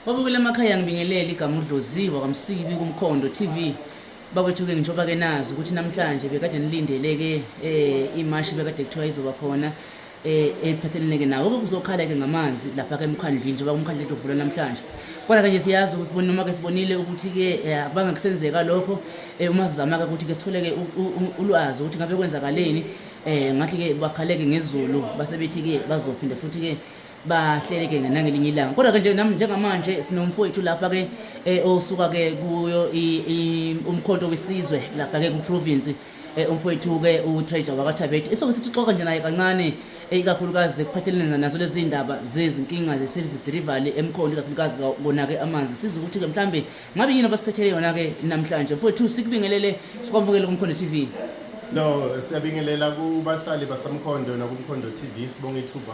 Babukela emakhaya ngibingelele igama uDloziwa kaMsibi kuMkhondo TV. Bakwethu ke ngisho bake nazi ukuthi namhlanje bekade nilindele ke eh imashi bekade kuthiwa izoba khona eh ephathelene ke nawo kuzokhala ke ngamanzi lapha ke emkhandlwini njengoba umkhandlu uvula namhlanje. Kodwa kanje siyazi ukuthi sibone noma ke sibonile ukuthi ke eh, akubanga kusenzeka lokho eh uma sizama ke ukuthi ke sithole ke u- u- u- ulwazi ukuthi ngabe kwenzakaleni eh ngathi ke bakhaleke ngezulu base bethi ke bazophinde futhi ke bahleleke nangelinye ilanga kodwa ke nje nami njengamanje sinomfowethu lapha ke eh, osuka ke kuyo i- i- umkhonto wesizwe lapha ke kuprovince eh, umfowethu ke utreasure wakathabet isoke sithi xoka nje naye kancane eh, ikakhulukazi ekuphathelene nazo lezi ndaba zezinkinga ze-service delivery emkhonto ikakhulukazi ka- kona ke amanzi siza ukuthi ke mhlambe ngabe yini abasiphethele yona ke namhlanje mfowethu sikubingelele sikwamukele kumkhondo t v No, siyabingelela kubahlali basamkhondo nakumkhondo TV sibonga ithuba.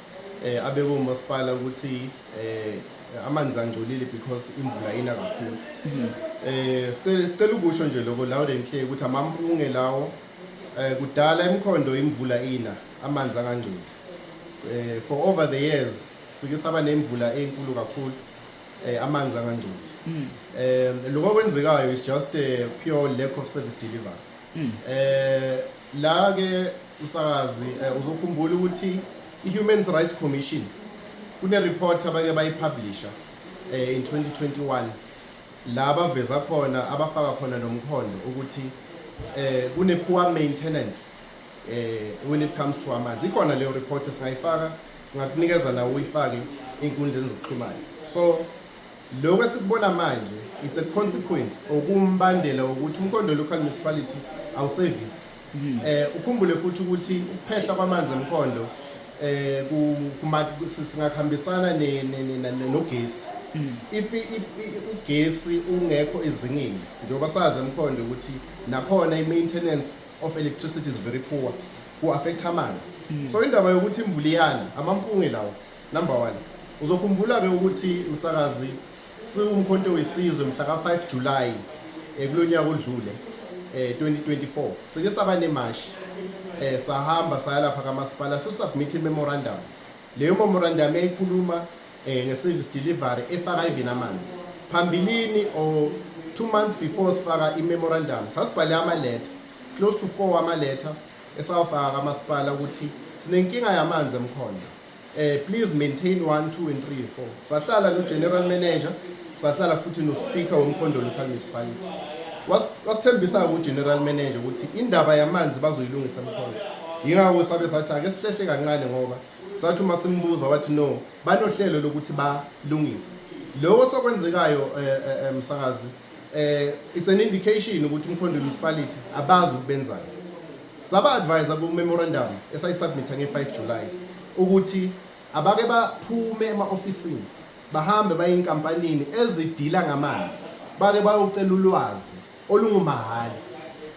eh, abekwe umasipala ukuthi eh, amanzi angcolile because imvula ina kakhulu mhm. eh, sicela ukusho nje lokho loud and clear ukuthi amampunge lawo eh, kudala emkhondo imvula ina amanzi angangcoli eh, for over the years sike saba nemvula enkulu kakhulu eh, amanzi angangcoli mhm. eh, lokho kwenzekayo is just a pure lack of service delivery mhm. eh, la ke Msakazi eh, uzokhumbula ukuthi i-Human Rights Commission kune-report abake bayipublisha eh, in 2021 la baveza khona abafaka khona nomkhondo ukuthi eh, kune-poor maintenance eh, when it comes to amanzi ikhona leyo report singayifaka singakunikeza nawo uyifake ey'nkundleni zokuxhumana so lokho esikubona manje it's a consequence okumbandela wokuthi umkhondo local municipality awusevisi Mm. Eh ukhumbule futhi ukuthi ukuphehla kwamanzi emkhondo eh kuma singakhambisana ne nogesi. Mm. If ugesi ungekho ezingeni njengoba sazi emkhondo ukuthi nakhona i maintenance of electricity is very poor ku affect amanzi. Mm. So indaba yokuthi imvula iyana amampunge lawo number 1 uzokhumbula ke ukuthi msakazi SiwuMkhonto weSizwe mhla ka-5 July eh, kulo nyaka odlule eh, 2024 sike saba nemashi eh, sahamba saya lapha kamasipala sosubmit i-memorandum leyo memorandum yayikhuluma eh, nge-service delivery efaka even amanzi phambilini or two months before sifaka i-memorandum sasibhale amaletha close to four amaletha esawafaka kamasipala ukuthi sinenkinga yamanzi emkhonto Eh please maintain 1 2 and 3 4. Sahlala no general manager, sahlala futhi no speaker womkhondo local municipality. Wasithembisa ku general manager ukuthi indaba yamanzi bazoyilungisa mkhona. Yingakho sabe sathi ake sihlehle kancane ngoba sathi uma simbuza wathi no banohlelo lokuthi balungise. Lokho sokwenzekayo eh, eh, eh msakazi eh it's an indication ukuthi umkhondo municipality abazi ukubenzani. Saba-advise-a ku-memorandum esayisubmitha nge-5 July ukuthi abake baphume ema-ofisini bahambe baye inkampanini ezidila ngamanzi bake bayocela ulwazi olungumahhala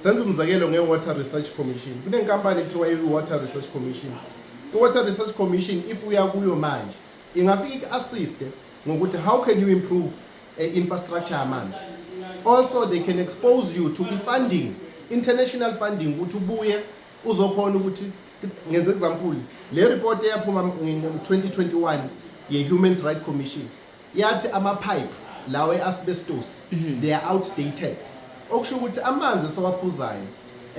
senza umzekelo nge-water research commission kunenkampani ekuthiwa i-water research commission i-water research commission if uya kuyo manje ingafike iku-assiste ngokuthi how can you improve eh, infrastructure yamanzi also they can expose you to i-funding international funding ukuthi ubuye uzokhona ukuthi ngenze example le report eyaphuma ngo-2021 ye-human rights commission yathi ama-pipe lawo e-asbestos mhm. they are outdated okusho ukuthi amanzi esiwaphuzayo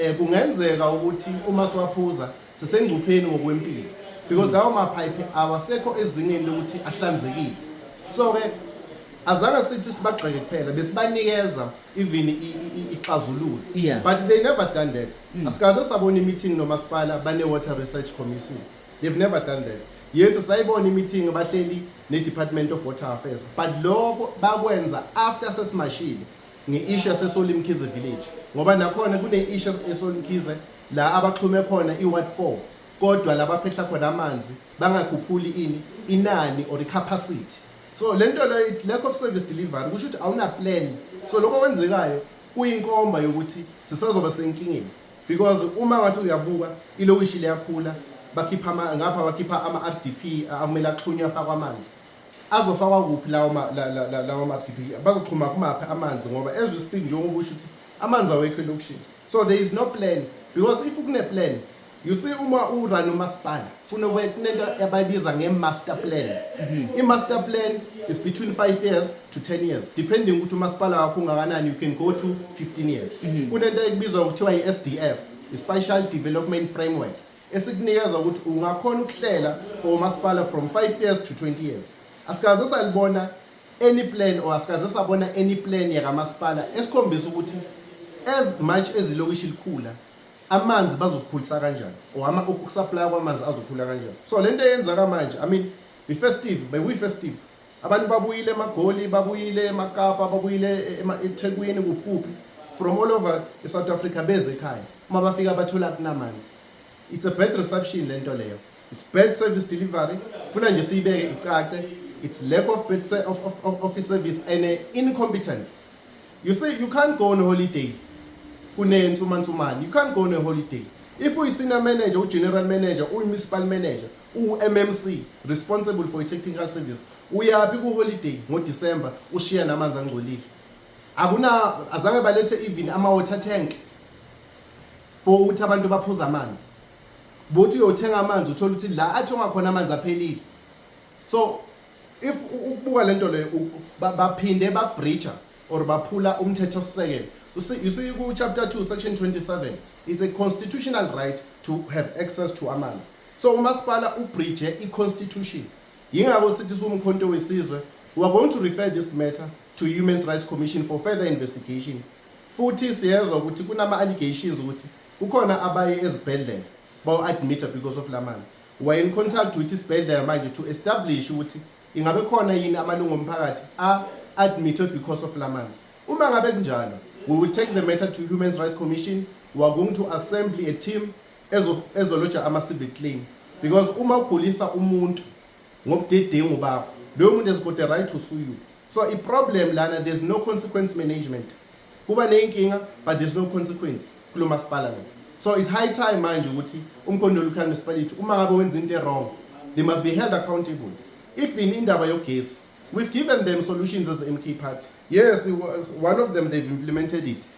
um kungenzeka ukuthi uma siwaphuza sisengcupheni ngokwempilo because lawo maphayiphi awasekho ezingeni lokuthi ahlanzekile so-ke azange sithi sibagxeke kuphela besibanikeza even ixazululo yeah. but they never done that mm. asikaze sabona imeeting nomasipala bane-water research commission they've never done that yes sayibona imeeting abahleli ne-department of water affairs but lokho bakwenza after sesimashile nge-ishu yasesolimkhize village ngoba nakhona kune-ishu esolimkhize la abaxhume khona i-ward four kodwa la baphehla khona amanzi bangakhuphuli ini inani or i-capacity so le nto leyo it's lack of service delivery kusho ukuthi awuna-plan so lokho kwenzekayo kuyinkomba yokuthi sisazoba senkingeni because uma ngathi uyabuka ilokishi liyakhula bakhipha ngapha bakhipha ama-rdp akumele axhunywe afakwa amanzi Azofakwa kuphi lawo ma- la- la- la- lawo mabhibhili bazoxhuma kumaphi amanzi ngoba as we speak njengoba usho ukuthi amanzi awekho elokishini so there is no plan because if kune-plan you see uma urun umasipala funa kube kunento abayibiza nge-master plan i-master plan is between 5 years to 10 years depending ukuthi umasipala wakho ungakanani you can go to 15 years kunento ekubizwa kuthiwa i-sdf i-special development framework esikunikeza ukuthi ungakhona ukuhlela for umasipala from 5 years to 20 years asikaze salibona any plan or asikaze sabona any plan yakamasipala esikhombisa ukuthi as much as ilokishi likhula amanzi bazosikhulisa kanjani or ama ukusupply kwamanzi azokhula kanjani so lento eyenzaka manje i mean befestive bekuyi festive Abantu babuyile eMagoli, babuyile eMakapa, babuyile eThekwini kuphi from all over eSouth Africa beze ekhaya. Uma bafika bathola kunamanzi. It's a bad reception lento leyo. It's bad service delivery. Funa nje siyibeke icace. It's lack of bad of, of, of office service and uh, incompetence. You say you can't go on a holiday. Kunensumantsumane. You can't go on a holiday. If uyisenior manager, ugeneral manager, uyimunicipal manager, UMMC, responsible for technical service, uyaphi ku holiday ngo December ushiya namanzi angcolile. Akuna azange balethe even ama water tank for ukuthi abantu baphuza amanzi. Bothi uyothenga amanzi uthola ukuthi la athi ongakhona amanzi aphelile. So if ukubuka lento leyo baphinde ba breacher or baphula umthetho sisekelo you see, you see ku chapter 2 section 27 it's a constitutional right to have access to amanzi So umasipala ubridge i-constitution yingakho sithi siwumkhonto wesizwe we are going to refer this matter to Human Rights Commission for further investigation futhi siyezwa ukuthi kunama-allegations ukuthi kukhona abaye ezibhedlela bawu-admita because of la manzi were in contact with isibhedlela manje to establish ukuthi ingabe khona yini amalungu omphakathi a-admitwe because of la manzi uma ngabe kunjalo we will take the matter to Human Rights Commission we are going to assembly a team ezoloja ama-civic claim because uma ugulisa umuntu ngobudedengu bakho loyo muntu has got the right to sue you so i-problem lana there's no consequence management kuba neyinkinga but there's no consequence kulo masipala lo so it's high time manje ukuthi umkhondoli ukhale municipality uma ngabe wenza into e-wrong they must be held accountable even indaba yogesi we've given them solutions as mk party yes one of them they've implemented it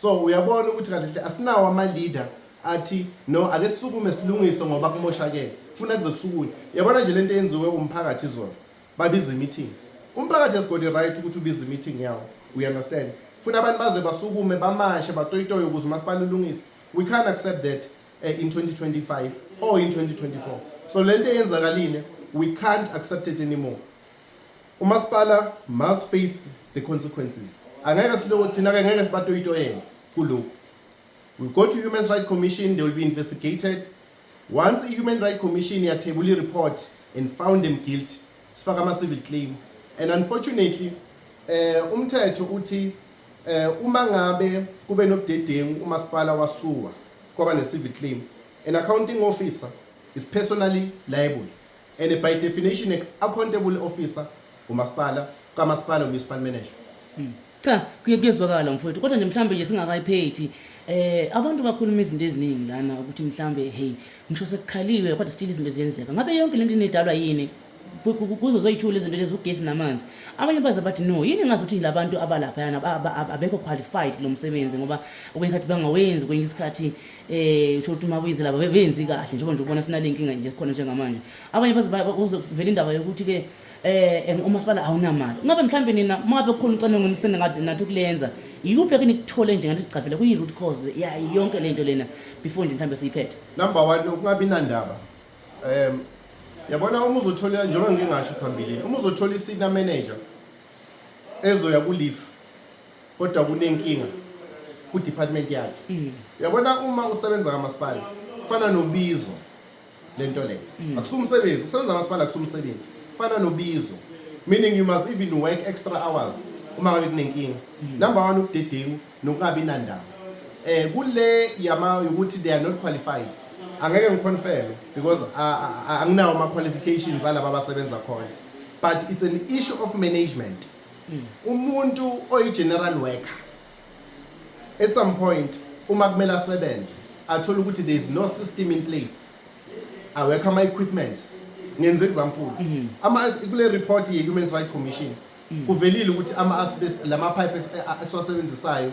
so uyabona ukuthi kahle kahle asinawo ama-leader athi no ake sisukume silungise ngoba kumoshakele funa kuze kusukunye yabona nje lento yenziwe umphakathi izona babiza imeeting umphakathi has got the right ukuthi ubize imeeting yawo we understand funa abantu baze basukume bamashe batoyitoye ukuze umasipala ulungise we can't accept that uh, in 2025 or in 2024 so lento eyenzakalile we can't accept it anymore Umasipala must face the consequences. Angeke siloko thina ke ngeke sibatoyitoyela kuloko. We go to Human Rights Commission, they will be investigated. Once i Human Rights Commission yathebula report and found them guilty, sifaka ama civil claim. And unfortunately, eh umthetho uthi eh uma ngabe kube nobudedengu umasipala wasuwa kwaba ne civil claim, an accounting officer is personally liable. and by definition a accountable officer umasipala kamasipala municipal manager hmm. cha kuye kuyezwakala mfowethu kodwa nje mhlawumbe nje singakayiphethi eh abantu bakhuluma izinto eziningi lana ukuthi mhlawumbe hey ngisho sekukhaliwe kodwa still izinto eziyenzeka ngabe yonke lento inedalwa yini kuzo zoyithula izinto lezi ugesi namanzi abanye baze bathi no yini ngazi ukuthi labantu abalapha yana abekho qualified lo msebenzi ngoba okwenye khathi bangawenzi kwenye isikhathi eh uthola ukuthi uma kuyizilaba bebenzi kahle njengoba nje ubona sinale nkinga nje khona njengamanje abanye baze kuzovela indaba yokuthi ke eh umasipala awunamali ngabe mhlawumbe nina mabe kukhona ucwaningo nisene ngathi nathi ukulenza yikuphi ke nikuthole nje ngathi gcavela kuyi root cause ya yonke lento lena before nje mhlawumbe siyiphethe number 1 ukungabi nandaba em yabona uma uzothola njengoba ngingasho phambilini uma uzothola isina manager ezoya ku leave kodwa kunenkinga kudepartment yakhe mm. yabona uma usebenza kamasipala kufana nobizo lento le mm. akusumsebenzi ukusebenza kamasipala akusumsebenzi kufana nobizo meaning you must even work extra hours uma ngabe kunenkinga mm. number 1 ukudedengu nokungabi nandaba eh kule yama ukuthi they are not qualified angeke ngiconfirm because anginawo ama qualifications alaba abasebenza khona but it's an issue of management mm. umuntu oyi general worker at some point uma kumele asebenze athola ukuthi there is no system in place awekho ama equipments ngenze example mm-hmm. ama kule report ye human rights commission mm. kuvelile ukuthi ama asbest lama pipe esiwasebenzisayo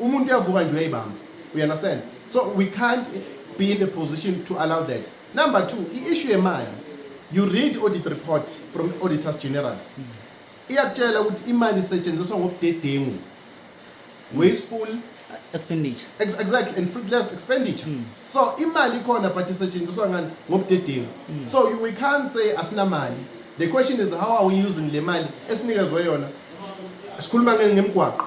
umuntu uyavuka nje uyayibamba you understand so we can't be in the position to allow that number two i-issue yemali you read audit report from auditors general iyakutshela ukuthi imali isetshenziswa ngobudedengu wasteful expenditure Ex exactly and fruitless expenditure mm. so imali ikhona but isetshenziswa ngani ngobudedengu mm. so we can't say asinamali the question is how are we using le mali esinikezwe yona sikhuluma ngemgwaqo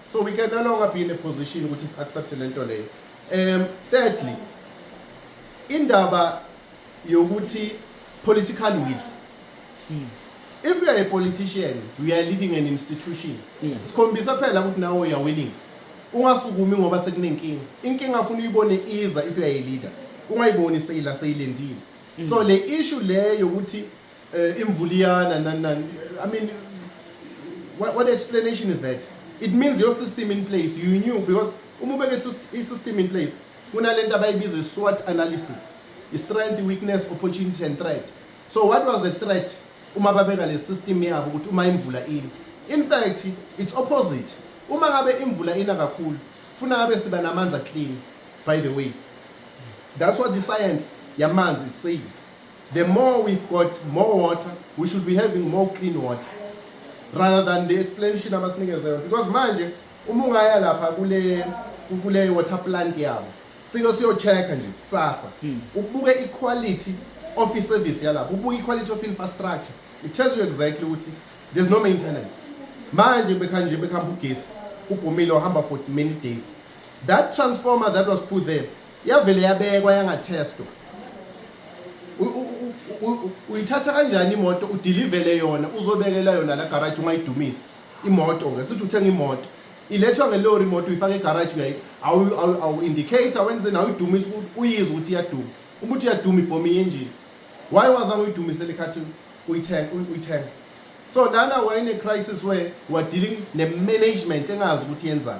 so we can no longer be in a position ukuthi si-accepte le nto leyo um thirdly indaba yokuthi political will hmm. if you are a politician you are leading an institution hmm. sikhombisa phela ukuthi nawe uya willing ungasukumi ngoba sekunenkinga inkinga afuna uyibone iza if you are a leader ungayiboni seyila seyilendile hmm. so le issue leyo ukuthi uh, imvuliyana nani nani i mean what, what explanation is that it means your system in place you knew because uma ubeke i-system in place kunale nto abayibiza i-swat analysis i-strength weakness opportunity and threat so what was the threat uma babeka le system yabo ukuthi uma imvula ini in fact it's opposite uma ngabe imvula ina kakhulu funa ngabe siba namanzi aclean by the way that's what the science yamanzi is saying The more we've got more water, we should be having more clean water rather than the explanation abasinikeza yona because manje uma ungaya lapha kule kule water plant yabo sike siyocheck nje kusasa hmm. ubuke iquality of iservice yalapho ubuke iquality of infrastructure it tells you exactly ukuthi there's no maintenance manje bekhanje nje bekhamba ugesi ubhumile ohamba for many days that transformer that was put there yavele yabekwa yangathestwa uyithatha kanjani imoto udilivele yona uzobekela yona la garage ungayidumisi imoto ke sithi uthenga imoto ilethwa ngelori imoto uyifaka egarage uyayi awu-indicate awenzeni awuyidumisi uyizwe ukuthi iyaduma uma uthi iyaduma ibhomi yenjini why wazange uyidumisele ikhathi uyithenga so lana wayene-crisis where wadiling ne-management engazi ukuthi yenzani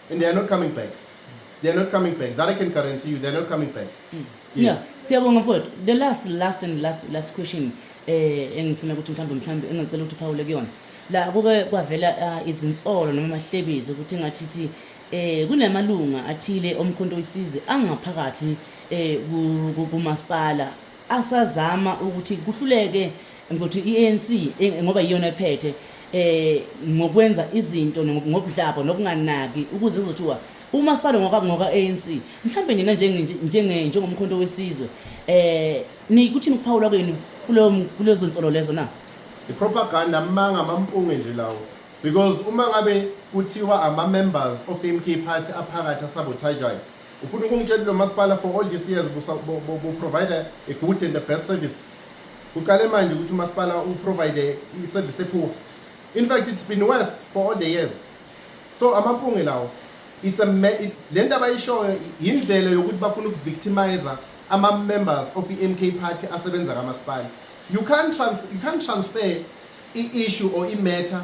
and they are not coming back they are not coming back that i can guarantee you they are not coming back mm. yes. yeah siyabonga mfowethu the last last and last last question eh engifuna ukuthi mhlawumbe mhlawumbe engicela ukuthi uphawule kuyona la kuke kwavela ah, izinsolo noma amahlebezi ukuthi ngathithi eh kunamalunga athile omkhonto wesize angaphakathi eh kumasipala asazama ukuthi kuhluleke ngizothi i-ANC e, ngoba iyona ephethe eh ngokwenza izinto ngobudlabo nokunganaki ukuze kuzothiwa uma sibale ngoka ngoka ANC mhlambe nina njenge njenge njengomkhonto wesizwe eh nikuthini ukuphawula kwenu kulo kulezo nsolo lezo na ipropaganda amanga amampunge nje lawo because uma ngabe kuthiwa ama members of MK party aphakathi asabotajayo Ufuna ukungitshela lo masipala for all these years bu-provider a good and the best service. Uqale manje ukuthi umasipala uprovide i-service epoor. In fact it's been worse for all the years. So amampunge lawo it's a le nto abayishoyo yindlela yokuthi bafuna ukuvictimizer ama-members of i-MK party asebenza kamasipala. You can't, trans you can't transfer i-issue or i-matter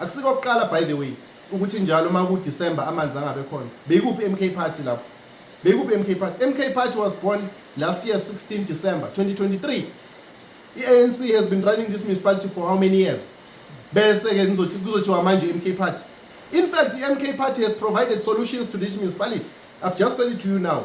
Akusiko kuqala by the way ukuthi njalo uma ku December amanzi angabe khona. Beyikuphi MK party lapho? Beyikuphi MK party? MK party was born last year 16 December 2023. I-ANC has been running this municipality for how many years? Bese ke nizothi kuzothiwa manje MK party. In fact, the MK party has provided solutions to this municipality. I've just said it to you now.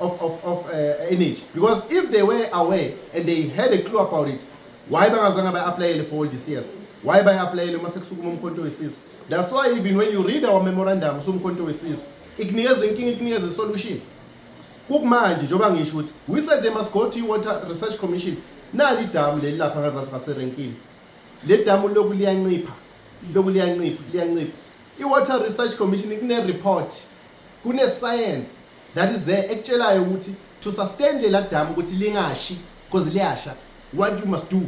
of, of, of uh, energy because if they were aware and they had a clue about it why bangazange bayi-aplayele for all these years why bayi-aplayele uma sekusukuma umkhonto wesizwe that's why even when you read our memorandum usumkhonto wesizwe ikunikeza inkinga ikunikeza isolution kukumanje njengoba ngisho ukuthi we said they must go to i-water research commission nali idamu leli lapha ngazansi ngaserenkini le damu loku liyancipha loku liyancipha liyancipha i-water research commission kune-report kune-science that is there ekutshelayo ukuthi to sustain lela dam ukuthi lingashi because liyasha what you must do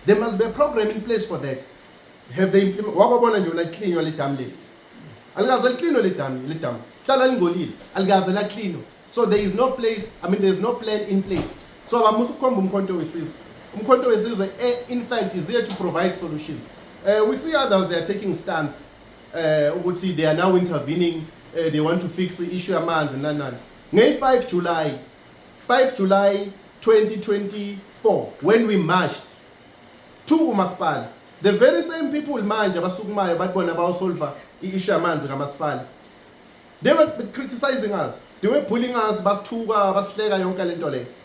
there must be a program in place for that have they implement wakwabona nje wena licleanwa le dam leli alikaze licleanwe le dam le dam hlala lingcolile alikaze la cleanwa so there is no place i mean there is no plan in place so abamusa ukukhomba umkhonto wesizwe umkhonto wesizwe eh, in fact is here to provide solutions uh, we see others they are taking stance eh ukuthi they are now intervening eh, they want to fix the issue yamanzi nani nani ngey 5 July 5 July 2024 when we marched to umasipala the very same people manje abasukumayo bathi bona bawusolva i-issue yamanzi kamasipala they were criticizing us they were bullying us basithuka basihleka yonke lento leyo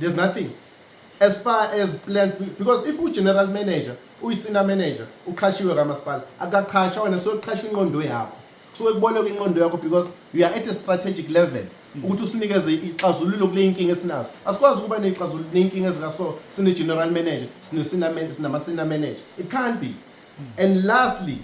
there's nothing as far as plans because if ugeneral manager uyisina manager uqhashiwe kamasipala akaqhasha wena kusuke kuqhasha inqondo yakho kusuke kuboleka inqondo yakho because you are at a strategic level mm. ukuthi usinikeze ixazululo kule inkinga esinazo asikwazi ukuba neyixazululo neyinkinga ezikaso sine-general manager sinamasina manager it can't be mm. and lastly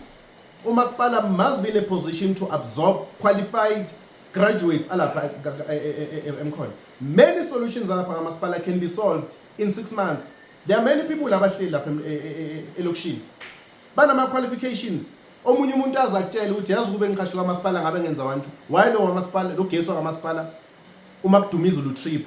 umasipala must be in a position to absorb qualified graduates alapha e, e, e, emkhona many solutions alapha kamasipala can be solved in six months there are many people abahleli lapha elokishini banama-qualifications omunye umuntu aze akutshele ukuthi yazi ukube ngiqhashe kwamasipala ngabe ngenza wantu why lo wamasipala lo gesi wakamasipala uma kudumiza ulutrip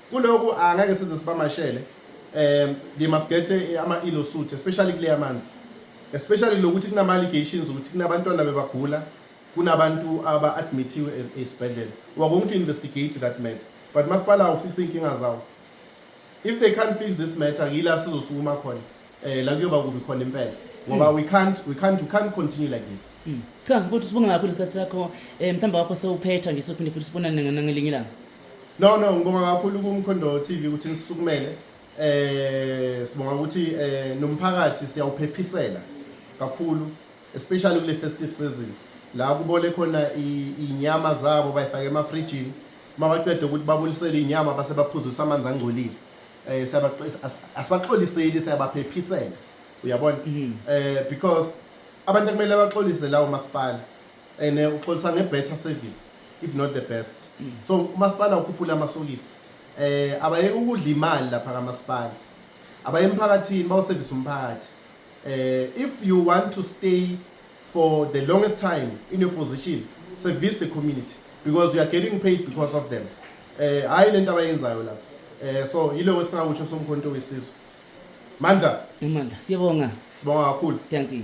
Kuloku angeke size sibamashele um they must get eh, ama-ilo suit especially kuleya manzi especially lokuthi kunama-allegations ukuthi kunabantwana bebagula kunabantu aba-admithiwe esibhedlela we are going to investigate that matter but masipala awufikise iy'nkinga zawo if they can't fix this matter yila sizosukuma khona um la kuyoba kubi khona impela ngoba hmm. we can't we can't we can't continue like this hmm. cha futhi sibonga kakhulu isikhathi sakho um mhlawumbe wakho sewuphetha nje sophinde futhi sibonane nangelinye ilanga No no ngibonga kakhulu ku Mkhondo TV ukuthi nisukumele eh sibonga ukuthi eh nomphakathi siyawuphephisela kakhulu especially kule festive season la kubole khona inyama zabo bayifake emafrijini mabacede ukuthi babulisele inyama base baphuzisa amanzi angcolile eh asibaxoliseli siyabaphephisela uyabona mhm. eh because abantu kumele baxolise lawo masipala and eh, uxolisa nge-better service if not the best mm. so umasipala ukhuphula amasokisi eh abayeke ukudla imali lapha kamasipala abaye emphakathini bawusevise umphakathi eh if you want to stay for the longest time in your position service the community because you are getting paid because of them eh hayi lento abayenzayo lapha eh so yileyo esingakusho somkhonto wesizwe mandla imandla siyabonga sibonga kakhulu thank you